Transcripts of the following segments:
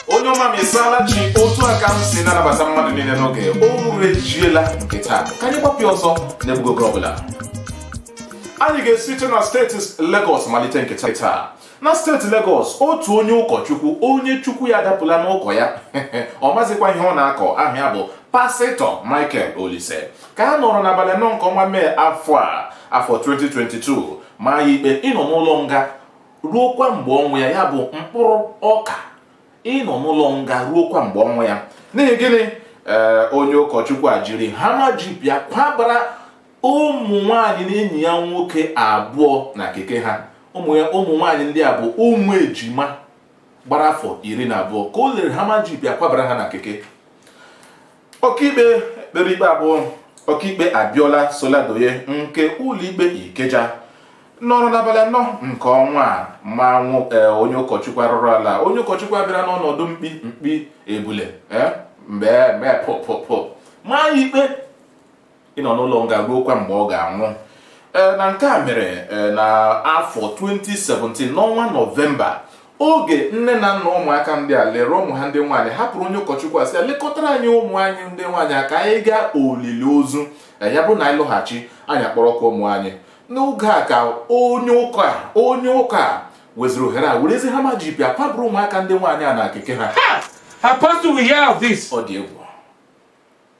onye ọma m ịsaala chi otu a ka m si na-anabata mmadụ niile n'oge orejiela nke taa ka anyị gbapụ ya ọsọ n'egbughị oge ọbụla anyị ga-esite na steeti Lagos malite nke taa na steeti Legọs otu onye ụkọchukwu onye chukwu ya adapụla n'ụkọ ya ọ mazikwa ihe ọ na-akọ aha ya bụ pasịtọ Michael Olise ka a nọrọ n'abalị anọ nke ọnwa mee afọ a afọ 2022 ma ya ikpe ịnọ n'ụlọ nga ruokwa mgbe ọnwụ ya ya bụ mkpụrụ ọka ịnọ n'ụlọ nga ruokwa mgbe ọnwụ ya n'ihi gịnị ee onye ụkọchukwu a jiri hama jip ya kwabara ụmụ nwaanyị na enyi ya nwoke abụọ na keke ha ụmụ ya ụmụ nwaanyị ndị a bụ ụmụ ejima gbara afọ iri na abụọ ka o lere hama jip ya kwabara ha na keke ọkaikpe kpere ikpe a bụ ọkaikpe abiola soladoye nke ụlọikpe ikeja nọrọ n'abalị anọ nke ọnwa a ma ee, onye ụkọchukwu arụrụ ala onye ụkọchukwu a bịara n'ọnọdụ mkpi mkpi ebule ee, mgbe mgbe pụ pụ pụ ma ya ikpe ịnọ n'ụlọ nga ruokwa mgbe ọ ga-anwụ eh, na nke a mere eh, na afọ 2017 n'ọnwa nọvemba oge nne na nna ụmụaka ndị a lere ụmụ ha ndị nwaanyị hapụrụ onye ụkọchukwu a sị ya lekọtara anyị ụmụ anyị ndị nwaanyị ka anyị gaa olili ozu eh, ya bụrụ na anyị lọghachi anyị akpọrọkwa ụmụ anyị n'oge a ka onye ụka onye ụka a weziri ohere a werezi hama jip ya kwaburu ụmụaka ndị nwaanyị a na keke ha ọ dị egwu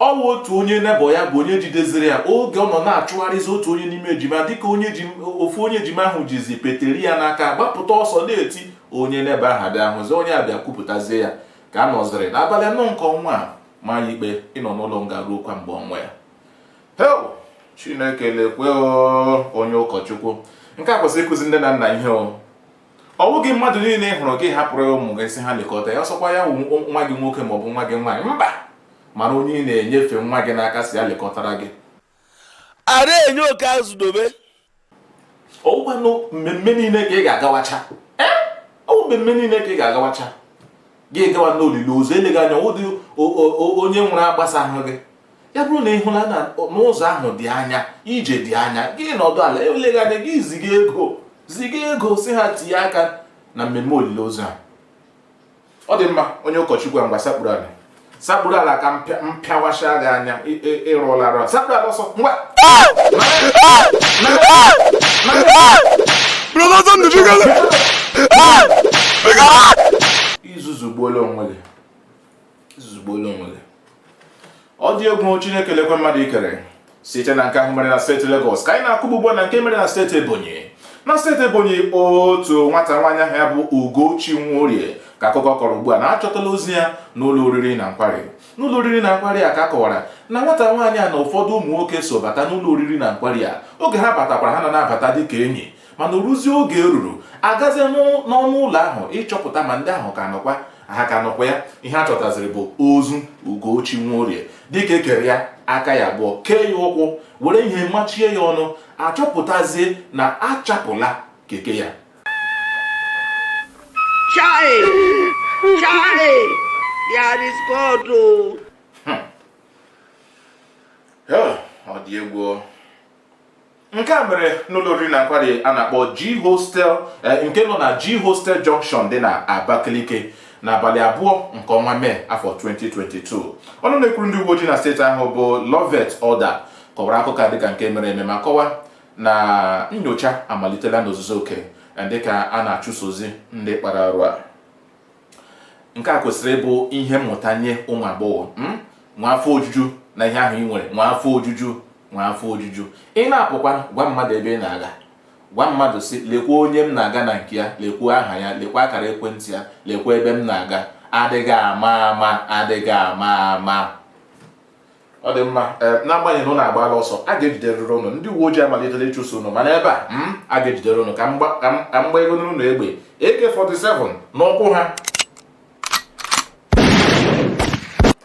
Ọ wụ otu onye nebọ ya bụ onye jideziri ya oge ọ nọ na-achụgharịzi otu onye n'ime ejima dịka onye ejim- ofu onye ejima ahụ jizi peteri ya n'aka gbapụta ọsọ na-eti onye nebọ ha abịa hụzi onye a bịa kwupụtazie ya ka a nọziri n'abalị anọ nke ọnwa a ma ya ikpe ịnọ n'ụlọ nga ruokwa mgbe ọnwụ ya hei chineke lekwe o, onye ụkọchukwu nke a kwesịrị ịkụzi nne na nna ihe o ọ bụghị mmadụ niile ị hụrụ gị ahapụrụ ya ụmụ gị sị ha lekọta ya ọ sọkwa ya wụ nwa gị nwoke ma ọ bụ nwa gị nwaanyị mba mara onye ị na-enyefe nwa gị n'aka sị ya lekọtara gị ara enye oke azụ dobe ọgwanụ mmemme niile ka ị ga-agawacha ọ mmemme niile ka ị ga-agawacha gị gawa n'olili ozu eleghị anya ụdị onye nwụrụ agbasahụ gị ya bụrụ na ị hụla na ụzọ ahụ dị anya ije dị anya gị nọdụ ala eleghị anya gị ziga ego ziga ego sị ha tinye aka na mmemme olili ozu a ọ dị mma onye ụkọchukwu a ngwa sakpuru ala sakpuru ala ka m pịawasha gị anya ị rụọla arụ sakpuru ala ọsọ ngwa i zuzugbuola onwe gị ọ dị egwu Chineke lekwa mmadụ i kere site na nke ahụ mere na steeti Lagos ka anyị na-akụgbugba na nke mere na steeti Ebonyi na steeti Ebonyi otu nwata nwaanyị aha ya bụ Ugochi Nworie ka akụkọ kọrọ ugbu a na achọtala ozu ya n'ụlọ oriri na nkwari n'ụlọ oriri na nkwari a ka a kọwara na nwata nwaanyị a na ụfọdụ ụmụ nwoke so bata n'ụlọ oriri na nkwari a oge ha batakwara ha na na-abata dịka enyi mana oruzie oge eruru agazie n'ọnụ ụlọ ahụ ịchọpụta ma ndị ahụ ka nọkwa ha ka nọkwa ya ihe a chọtaziri bụ ozu Ugochi Nworie dịka ekere ya aka ya abụọ kee ya ụkwụ were ihe machie ya ọnụ achọpụtazie na achapụla keke ya hmm. ọ dị egwu nke a mere n'ụlọ oriri na nkwari a na-akpọ G Hostel eh, nke nọ na G Hostel Junction dị na Abakaliki n'abalị abụọ nke ọnwa mee afọ 2022 ọnụ na-ekwuru ndị uwe ojii na steeti ahụ bụ Loveth Odah kọwara akụkọ dịka nke mere eme ma kọwa na nyocha amalitela n'ozuzu oke eh, dịka a na-achụsozi ndị kpara arụ a nke a kwesịrị ịbụ ihe mmụta nye ụmụ agbọghọ hmm? nwee afọ ojuju na ihe ahụ ị nwere nwee afọ ojuju nwee afọ ojuju ị na-apụkwa gwa mmadụ ebe ị na-aga gwa mmadụ sị lekwa onye m na-aga na nke ya lekwa aha ya lekwa akara ekwentị ya lekwa ebe m na-aga adịghị ama ama adịghị ama ama ọ dị mma n'agbanyeghị na ụnụ agbaala ọsọ a ga-ejiderịrị ụnụ ndị uwe ojii amalitela ịchụso ụnụ mana ebe a hmm, a ga-ejidere ụnụ ka mgba ego n'ụlọ egbe AK47 n'ụkwụ ha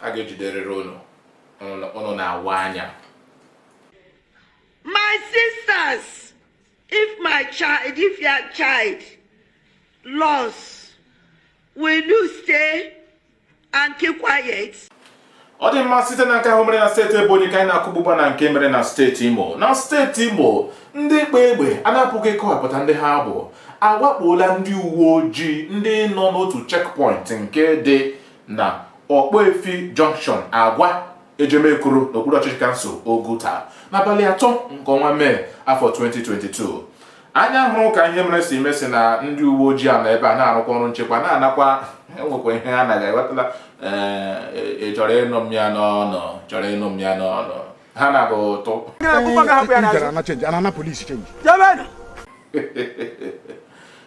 a ga-ejiderịrị ụnụ ụnụ na-awa anya my sisters if my child if your child lost will you stay and keep quiet. ọ dị mma site na nke ahụ mere na steeti ebonyi ka anyị na-akụgbugba na nke mere na steeti imo na steeti imo ndị kpa egbe a na-apụghị ịkọwapụta ndị ha bụ awakpola ndị uwe ojii ndị nọ n'otu checkpoint nke dị na ọkpọefi junction agwa ejemekuru n'okpuru ọchịchị kansụl oguta n'abalị atọ nke ọnwa mee afọ 2022 anya hụrụ ka ihe mere si mee sị na ndị uwe ojii a nọ ebe a na-arụkwa ọrụ nchekwa na-anakwa enwekwa ihe ha naghị ewetala ị chọrọ ịnụ m ya n'ọnụ chọrọ ịnụ m ya n'ọnụ ha na-agba ụtụ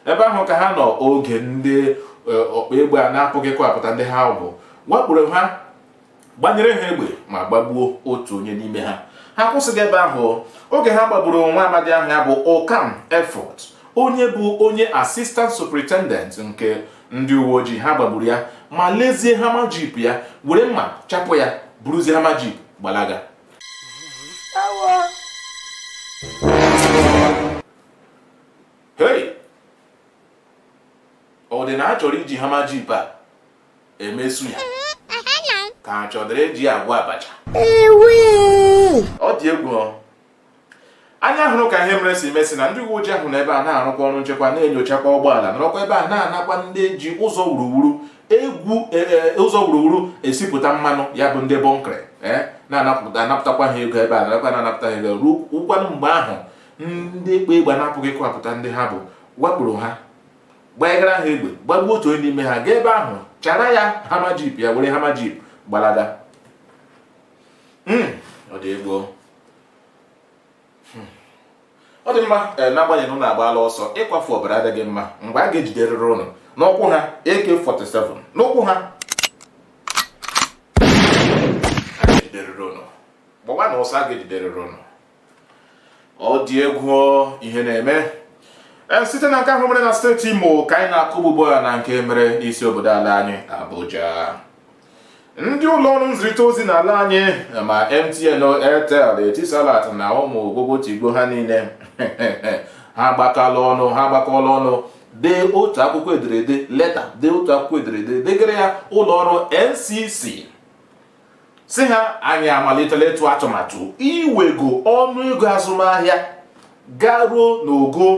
ebe ahụ ka ha nọ oge ndị ọkpa egbe a na-apụghị ịkọwapụta ndị ha bụ wakporo ha gbanyere ha egbe ma gbagbuo otu onye n'ime ha ha akwụsịghị ebe ahụ oge ha gbagburu nwa amadi ahụ ya bụ Ukam Efut onye bụ onye assistant superintendent nke ndị uwe ojii ha gbagburu ya ma lezie Hummer jeep ya were mma chapụ ya buruzie Hummer jeep gbalaga hei ọ dị na a chọrọ iji Hummer jeep a eme suya ka a chọdịrị iji ya agwọ abacha ọ dị egwu anya hụrụ ka ihe mere si mee sị na ndị uwe ojii ahụ nọ ebe ha na-arụkwa ọrụ nchekwa na-enyochakwa ụgbọala nọrọkwa ebe ha na-anakwa ndị ji ụzọ wuruwuru egwu e, e, ụzọ wuruwuru esipụta mmanụ ya bụ ndị bunkery e, na-anapụtakwa ha ego ebe ha nọrọkwa na-anapụta ha ego ọ wụkwanụ mgbe ahụ ndị kpa egbe a na-apụghị ịkọwapụta ndị ha bụ wakporo ha gbanyegara ha egbe gbagbuo otu onye n'ime ha gaa ebe ahụ chara ya Hummer jeep ya were Hummer jeep gbalaga hmm, ọ dị egwu o hmm. ọ dị mma eh, n'agbanyeghị na ụnụ agbaala ọsọ ịkwafu ọbara adịghị mma mgbe a ga-ejiderịrị ụnụ n'ụkwụ ha AK47 n'ụkwụ ha gbawanụ ọsọ a ga-ejiderịrị ụnụ ọ dị egwu ihe na-eme e, site na nke ahụ mere na steeti Imo ka anyị na-akụ ugbu a na nke mere n'isi obodo ala anyị Abuja ndị ụlọ ọrụ nzirịta ozi n'ala anyị ma MTN Airtel Etisalat na ụmụ ogbogo tigbo ha niile ha gbakọọla ọnụ ha gbakọọla ọnụ dee otu akwụkwọ ederede leta dee otu akwụkwọ ederede degara ya ụlọ ọrụ NCC sị ha anyị amalitela ịtụ atụmatụ iwego ọnụ ego azụmahịa garuo n'ogo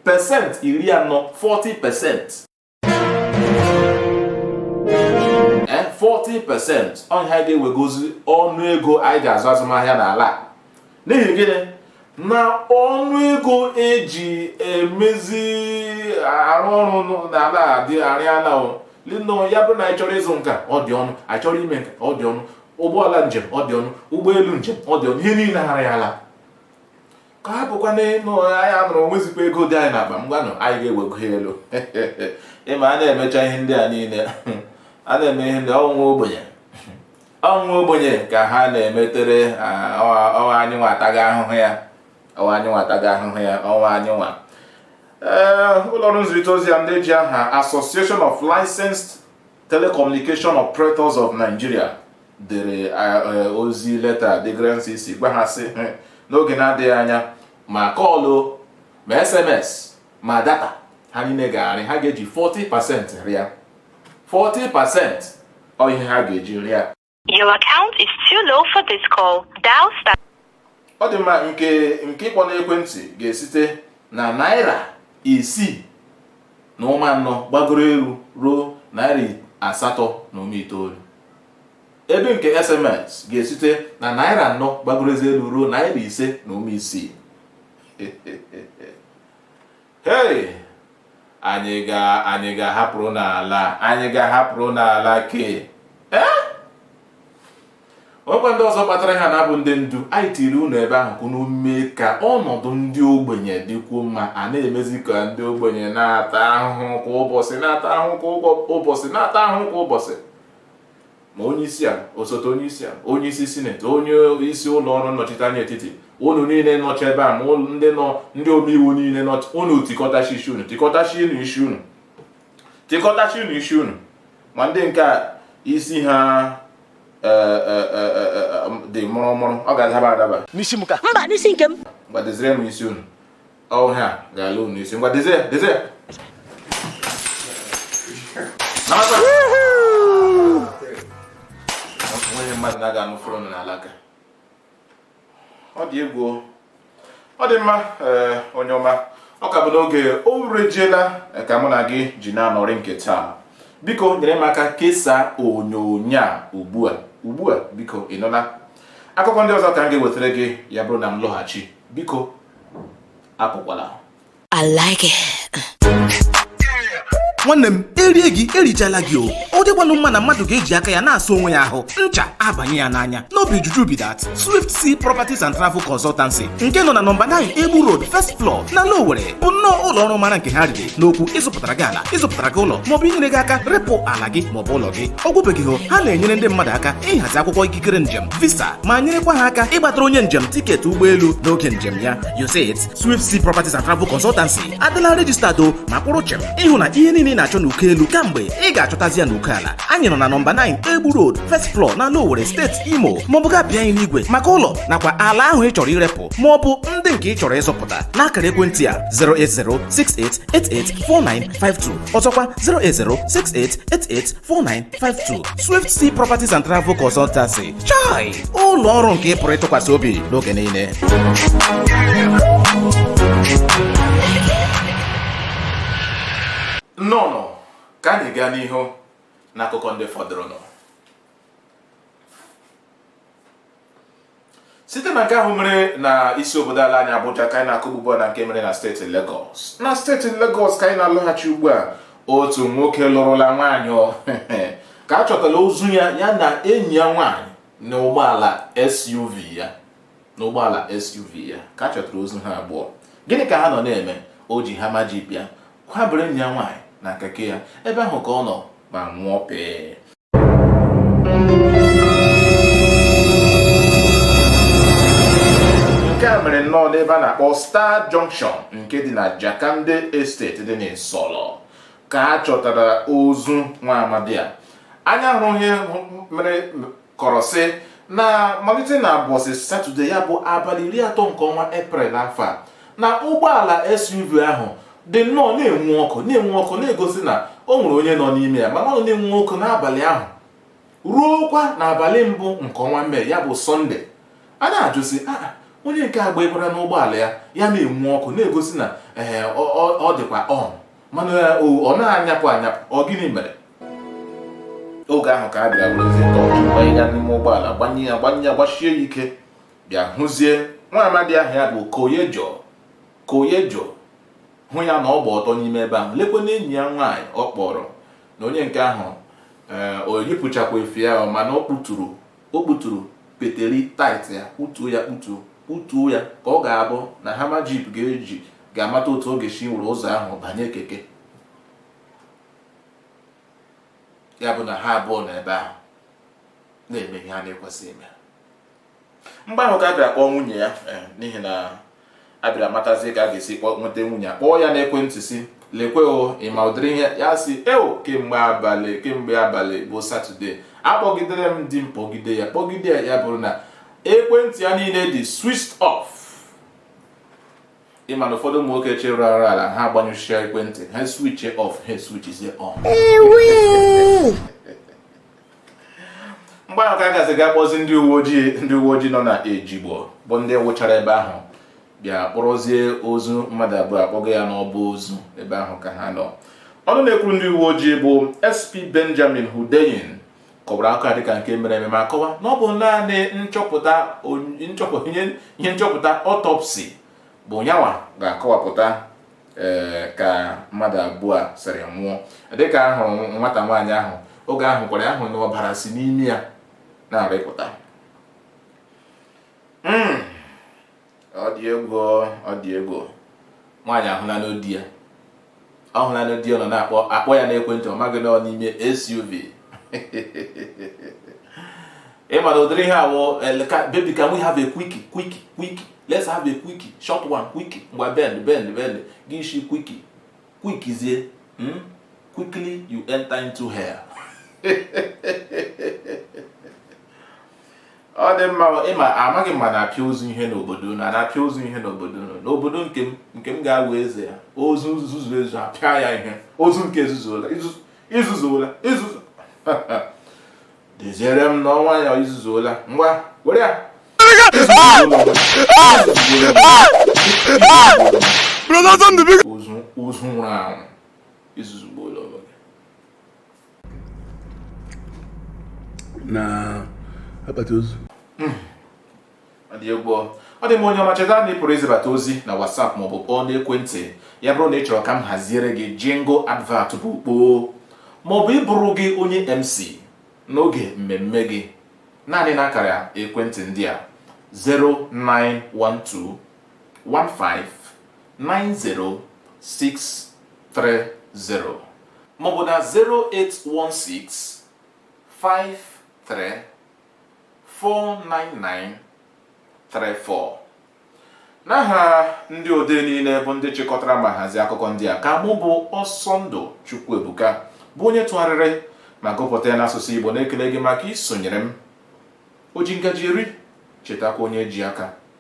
pesenti iri anọ 40 percent 40 percent ọ ya anyị ga-ewegozi ọnụ ego anyị ji azụ azụmahịa n'ala a n'ihi gịnị na ọnụ ego eji emezi arụ ọrụ n'ala anyị arịala elu ya bụ na anyị chọrọ ịzụ nke a ọ dị ọnụ anyị chọrọ ime nke a ọ dị ọnụ ụgbọala njem ọ dị ọnụ ụgbọelu njem ọ dị ọnụ ihe niile arịala ka a bụkwa na ịnụ anyị anụrụ nwezikwa ego dị anyị n'akpa mba nụ anyị ga-ewego ya elu ị ma a na-emecha ihe ndị a niile a na-eme ihe ndị ọ wụ ogbenye ọ wụ nwa ogbenye ka ha na-emetere ọ wụ anyị nwa taga ahụhụ ya ọ wụ anyị nwa taga ahụhụ ya ọ wụ anyị nwa ụlọọrụ nzirịta ozi a ndị ji aha Association of Licensed Telecommunication Operators of Nigeria dere ozi leta degara NCC gwa ha sị n'oge na-adịghị anya ma call ma SMS ma data ha niile ga-arịa ha ga-eji 40 percent rịa 40 percent ọ ihe ha ga-eji rịa Your account is too low for this call. Dial star. ọ dị mma nke ịkpọ n'ekwentị ga-esite na naira isii na ụma anọ gbagoro elu ruo naira asatọ na ụma itoolu ebe nke sms ga-esite na naira anọ gbagorozi elu ruo naira ise na ụma isii Hei! Anyị ga anyị ga-ahapụrụ n'ala anyị ga-ahapụrụ n'ala ke ee ọkwa ndị ọzọ kpatara ha na-abụ ndị ndu anyị tiri unu ebe ahụ ka unu mee ka ọnọdụ ndị ogbenye dịkwuo mma a na-emezi ka ndị ogbenye na-ata ahụhụ kwa ụbọchị na-ata ahụhụ kwa ụbọchị na-ata ahụhụ kwa ụbọchị ma onye isi ala osote onye isi ala onye isi sineti onye isi ụlọ ọrụ nnọchiteanya etiti unu niile nọcha ebe a ma ndị nọ ndị omeiwu niile nọcha unu tikọtachi isi unu tikọtachi unu isi unu tikọtachi unu isi unu ma ndị nke a isi ha e, e, e, dị mụrụmụrụ ọ ga-adaba adaba n'isi m ka mba n'isi nke m gbadozire m isi unu ọ ha ga-ala unu isi ngwa dezie ya dezie ya Nabata! onye mmadụ na-aga anụ fụrụ n'alaka ọ dị egwu o. ọ dị mma ee, onye ọma ọ ka bụ n'oge o rejiela eh, ka mụ na gị ji na-anọrị nke taa biko nyere m aka kesaa onyonyo a ugbu a ugbu a biko ị nụla akụkọ ndị ọzọ ka m ga-ewetara gị ya bụrụ na m lọghachi biko apụkwala I like it. nwanne m erie gị erichala gị o ọ dịkwanụ mma na mmadụ ga-eji aka ya na-asa onwe ya ahụ ncha abanye ya n'anya no be juju be that swift sea properties and travel consultancy nke nọ na nọmba 9 egbu road first floor n'ala owere bụ nnọọ ụlọ ọrụ mara nke ha riri n'okwu ịzụpụtara gị ala ịzụpụtara gị ụlọ maọbụ inyere gị aka repụ ala gị maọbụ ụlọ gị ọ gwụbeghị o ha na-enyere ndị mmadụ aka ịhazi akwụkwọ ikikere njem visa ma nyerekwa ha aka ịgbatara onye njem tiketi ụgbọelu n'oge njem ya You say it Swift Sea Properties and Travel Consultancy adịla registered o ma kwụrụ chịm ịhụ na ihe niile ị na-achọ n'uko elu kamgbe ị ga-achọtazi ya n'uko ala anyị nọ na nọmba 9 Egbu Road first floor n'ala Owere steeti Imo maọbụ ga bịa anyị n'igwe maka ụlọ nakwa ala ahụ ị chọrọ irepụ maọbụ ndị nke ị chọrọ ịzụpụta n'akara ekwentị a 08068884952 ọzọkwa 08068884952 52 Swift Sea Properties and Travel Consultancy chai ụlọ ọrụ nke ị pụrụ ịtụkwasị obi n'oge niile nnọọ ka anyị gaa n'ihu n'akụkọ ndị fọdụrụnụ site na nke ahụ mere na isi obodo ala anyị Abuja ka anyị na-akụ ugbu a na nke mere na steeti Lagos na steeti Lagos ka anyị na-alọghachi ugbu a otu nwoke lụrụla nwaanyị ehe ka a chọtala ozu ya ya na enyi ya nwaanyị na ụgbọala SUV ya na ụgbọala SUV ya ka a chọtara ozu ha abụọ gịnị ka ha nọ na-eme o ji Hummer Jeep ya kwabere enyi ya nwaanyị na keke ya ebe ahụ ka ọ nọ ma nwụọ pee nke a mere nnọọ n'ebe a na-akpọ Star Junction nke dị na Jakande Estate dị n'Isolo ka a chọtara ozu nwa amadi a anya hụrụ ihe mere kọrọ sị na malite na ụbọchị satọde ya bụ abalị iri atọ nke ọnwa eprel afọ a na ụgbọala SUV ahụ dị nnọọ na-enwu ọkụ na-enwu ọkụ na-egosi na o nwere onye nọ n'ime ya mana ọ na-enwu ọkụ n'abalị ahụ ruokwa n'abalị mbụ nke ọnwa mee ya bụ sọnde a na-ajụ sị ah, ah, onye nke a gbanyekwara n'ụgbọala ya ya na-enwu ọkụ na-egosi na ee eh, ọ dịkwa on mana ọ na-anyapụ anyapụ ọ gịnị mere oge ahụ ka a bịara werezie tọọchị gbanye ya n'ime ụgbọala gbanye ya gbanye ya gbasie ya ike bịa hụzie nwa amadi ahụ ya bụ Koyejo Koyejo hụ ya na ọ gba ọtọ n'ime ebe ahụ, lekwa na enyi ya nwaanyị ọ kpọrọ na onye nke ahụ ee o yipụchakwa efe ya ọ mana ọ kpụturu o kpụturu peteri tight ya kpụtuo ya kpụtuo kpụtuo ya ka ọ ga-abụ na Hummer Jeep ga-eji ga-amata otu ọ ga-esi were ụzọ ahụ banye keke ya bụ na ha abụọ nọ ebe ahụ na-eme ihe a na-ekwesị ime mgbe ahụ ka a bịara kpọọ nwunye ya eh, n'ihi na a bịara matazie ka a ga-esi nweta nwunye a kpọọ ya n'ekwentị sị lekwe o ị ma ụdịrị ihe ya sị eo kemgbe abalị kemgbe abalị bụ satọde akpọgidere m di m kpọgide ya kpọgide ya ya bụrụ na ekwentị ya niile dị switched off ị ma na ụfọdụ ụmụ nwoke chere arụrụala ha agbanyụchia ekwentị ha switch off ha switchzie on mgbe ahụ ka a gazi ga kpọzi ndị uwe ojii ndị uwe ojii nọ na ejigbo bụ ndị wụchara ebe ahụ bịa kpọrọzie ozu mmadụ abụọ akpọgo ya n'ọba ozu ebe ahụ ka ha nọ ọnụ na-ekwuru ndị uwe ojii bụ sp benjamin hundeyin kọwara akụkọ a dịka nke mere eme ma kọwa na ọ bụ naanị nchọpụta ihe nchọpụta autopsy bụ nyanwa ga-akọwapụta ee ka mmadụ abụọ a sịrị nwụọ dịka a hụrụ nwata nwaanyị ahụ oge ahụ kwara ahụ na ọbara si n'ime ya na-arịpụta hmm. ọ dị egwu ọ dị egwu nwaanyị ahụla n'ọ di ya ọ hụla n'ọ di ya nọ na-akpọ akpọ ya n'ekwentị ọ maghị na ọ n'ime SUV ị ma na ụdịrị ihe a wụ eh, baby can we have a quickie quickie quickie let's have a quickie short one quickie ngwa bend bend bend gị isi quickie quickizie hmm? quickly you enter into hell ọ dị mma ị ma amaghị m ma a na-apịa ozu ihe n'obodo unu a na-apịa ozu ihe n'obodo unu n'obodo nke m nke m ga-awụ eze ya ozu nzuzu ezu a pịa ya ihe ozu nke ezuzuola i zuzuola i zuzu Deziere m na ọnwa ya i zuzuola ngwa were ya ozu nwụrụ anwụ i zuzugbuola onwe gị n'akpati ozu hmm. ọ dị egwu ọ dị mma onye ọma cheta na ị pụrụ izibata ozi na WhatsApp maọbụ kpọọ n'ekwentị ya bụrụ na ị chọrọ ka m haziere gị jingle advert bụ kpoo maọbụ ịbụrụ gị onye MC n'oge mmemme gị naanị n'akara ekwentị ndị a 0912 1590630 maọbụ na 0816 53 49934 n'aha ndị odee niile bụ ndị chịkọtara ma hazie akụkọ ndị a ka mụ bụ Ọsọndụ Chukwuebuka bụ onye tụgharịrị ma gụpụta ya n'asụsụ Igbo na-ekele gị maka isonyere m o ji ngaji eri chetakwa onye ji aka